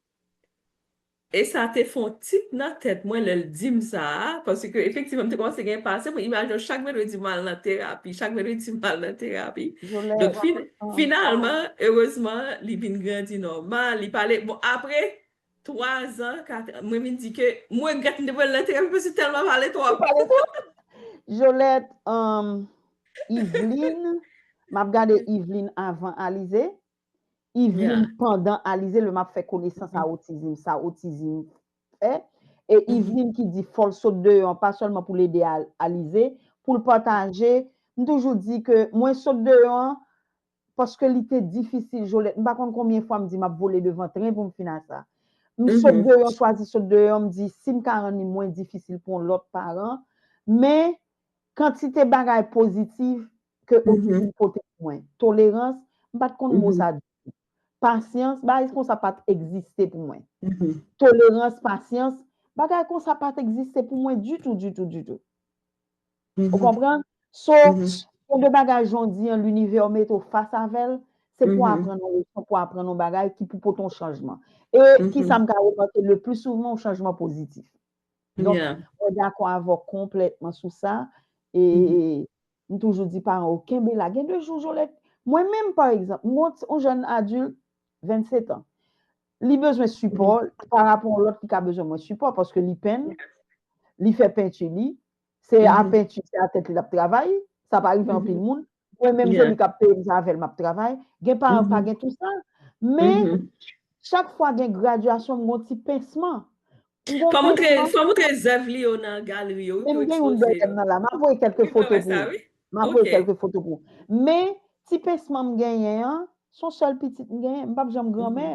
E sa te fè yon tit nan tèt mwen lè l di m sa a, paske efektivman m te kòmanse gen pase pou imaj yo chak mèkredi m al nan terapi, chak mèkredi m al nan terapi. Donk finalman, erezman, li vin grandi nòmal, li pale, bon apre 3 zan 4 an mwen vin di ke m regrèt m te pran lèt epi se tèlman pale twòp. Jolèt humm Yveline map gade Yveline avan Alize Yveline pandan Alize lè map fè konesans a otizim sa otizim fè e Yveline ki di fòl sot deyò an pa sèlman poul ede Alize poul pataje m toujou di ke mwen sot deyò an paske li te difisil jolèt m pa konn konbyen fwa m di map vole devan tren pou m fin a sa m sot deyò m chwazi sot deyò m di si m ka rann li mwen difisil pou yon lòt paran men kantite bagay pozitif ke otizm pote pou mwen tolerans m pat konn mo sa ditou pasyans bagay konsa pat egziste pou mwen tolerans pasyans bagay konsa pat egziste pou mwen ditou ditou ditou. Ou konpran? So, yon de bagay jondi an linivè ou mete ou fas avèl, se pou aprann yon leson, pou aprann yon bagay ki pou pote yon chanjman. E ki sa m ka remake le pli souvan yon chanjman pozitif. Donk, mwen dakò avè w konplètman sou sa. E m toujou di paran yo kenbe la. Gen de jou Jolèt, mwen menm pa egzanp, m gen yon jèn adilt 27 an. Li bezwen sipò pa rapò yon lòt ki ka bezwen mwen sipò paske li penn, li fè penti li, se a penti, se a tèt li l ap travay, sa pa rive anpil moun, mwen menm Joly k ap peye m sa avè l m ap travay, gen paran k pa gen tou sa. Men, chak fwa gen gradyasyon m gen yon ti pensman. M gen Fè youn nan. Fè w moutre zèv li yo nan galri yo wi pou yo ekspoze yo. Men m gen youn dèyè m nan la. M ap voye kèlke foto pou ou. M ap voye kèlke foto pou ou. Men, ti pensman m genyen an, s on sèl pitit m genyen. M p ap janm granmè.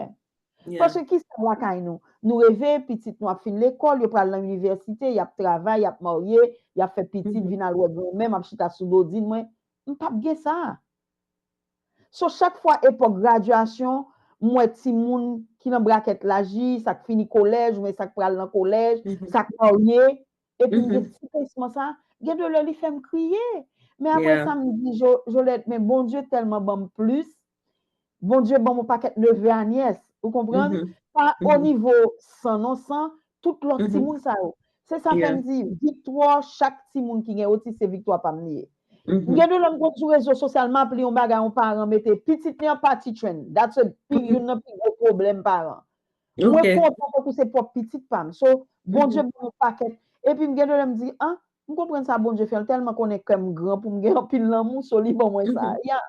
Paske ki sa lakay nou? Nou reve, pitit nou ap fin lekòl, yo pral nan inivèsite, y ap travay, y ap marye, y ap fè pitit, vin al wè granmè m ap chita sou bodin mwen. M p ap gen sa. So chak fwa epòk gradyasyon m wè timoun ki nan brakèt laj li, sa k fini kolèj oubyen sa k pral nan kolèj, sa k marye, epi m gen ti pinsman sa, gen de lè li fè m kriye. Men aprè sa m di Jolèt men Bondye tèlman ban m plis, Bondye ban m yon pakèt neve a nyès, ou konprann? Pa onivo san non san, Tout lòt timoun sa yo. Se sa fè m di, viktwa chak timoun ki gen otis se viktwa pa m li ye. Gen de lè m konn sou rezo sosyal m ap li yon bagay yon paran mete, pitit li an pa titren. That's a pi, youn nan pi gwo pwoblèm paran. Mwen kontan tankou se pwòp pitit pa m. So, Bondye ban m yon pakèt. Epi m gen de lè m di, ah, m konprann sa Bondye fè, l tèlman konnen kè m gran pou m gen anpil lanmou, so li ban mwen sa a. Yeah.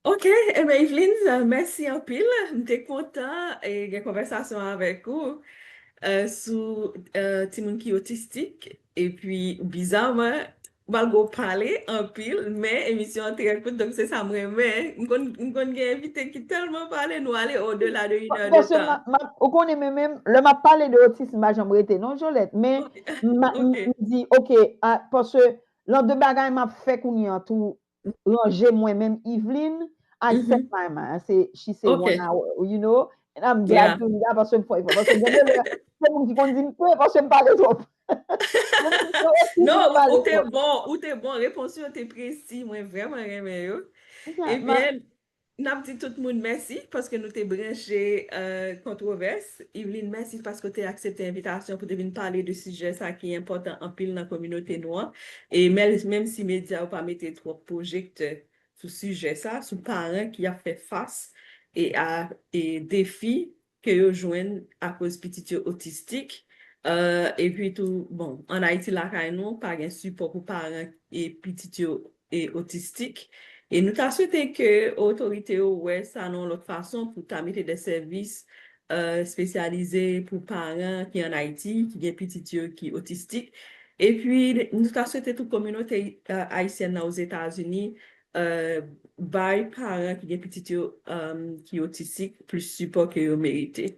Ok, ebe Yveline, mèsi anpil. M te kontan gen konvèsasyon avèk ou sou timoun ki otistik. E pi bizaman, malgre w pale anpil, men emisyon an trè kout, donk se sa m renmen. M konn gen envite ki tèlman pale, nou ale o dela de inè de tan. Ou konnen men menm, lè m ap pale de otism m pa janm rete non Jolèt. Men m di ok, paske Lan de bagay map fè kounye an tou ranje mwen menm Yveline I set my mind I say she say one hour you know and I'm glad to do that paske m fè efò paske gen de lè gen moun ki konn di m pè paske m pale twòp Non ou te bon ou te bon repons yo te presi mwen vreman renmen yo ebyen N ap di tout moun mèsi paske nou te branche Kontwovès. Yveline mèsi paske w te aksepte envitasyon pou te vin pale de sijè sa ki enpòtan anpil nan kominote nou an. E menm si medya yo pa mete twòp pwojektè sou sijè sa, sou paran ki ap fè fas a defi ke yo jwenn akoz pitit yo otistik, epi tou bon an Ayiti lakay nou pa gen sipò pou paran e pitit yo e otistik e nou ta swete ke otorite yo wè sa nan yon lòt fason pou ta mete de sèvis espesyalize pou paran ki an Ayiti ki gen pitit yo ki otistik epi nou ta swete tou kominote ayisyèn nan Ozetazini Bay paran ki gen pitit yo ki otistik plis sipò ke yo merite.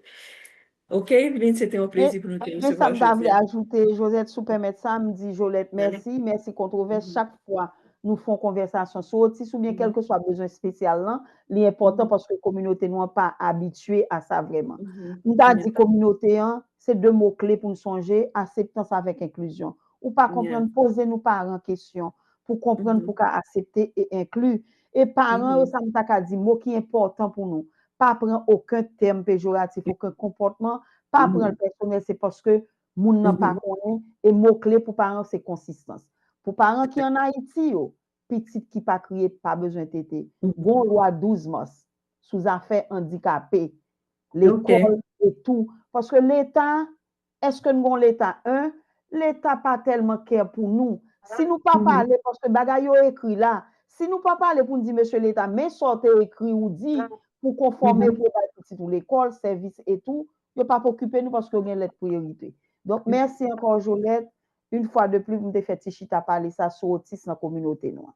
Ok Evelyne, se te yon plezi pou nou te resevwa jodi a. Gen sa m ta vle ajoute, Josette, si w pèmèt sa, m di Jolèt mèsi, mèsi Kontwovès chak fwa nou fon konvèsasyon sou otis oubyen kèlkeswa bezwen espesyal lan, li enpòtan paske kominote nou an pa abitye a sa vrèman. M ta di kominote an, se de mo kle pou n sonje, aseptans avèk enklizyon. Ou pa konprann, poze nou paran kesyon. pou konprann pou ka asepte e enkli. E paran yo sa m ta ka di mo ki enpòtan pou nou, pa pran oken tèm pejoratif, oken konpòtman, pa pran l pèsonèl se paske moun nan pa konnen e mo kle pou paran se konsistans. Pou paran ki an Ayiti yo, pitit ki pa kriye pa bezwen tete. Gon lwa 12 mas sou zafè andikape, lekòl e tou paske leta Eske n gon leta un leta pa telman care pou nou si nou pa pale paske bagay yo ekri la si nou pa pale pou n di mesye leta men sa w te ekri ou di pou konfome pou w bay pitit ou lekol sevis e tou yo pap okipe nou paske yo gen let pou erite donk merci anko Jolette une fwa de plus pou m te fe ti chita pale sa sou otis nan kominote nou an.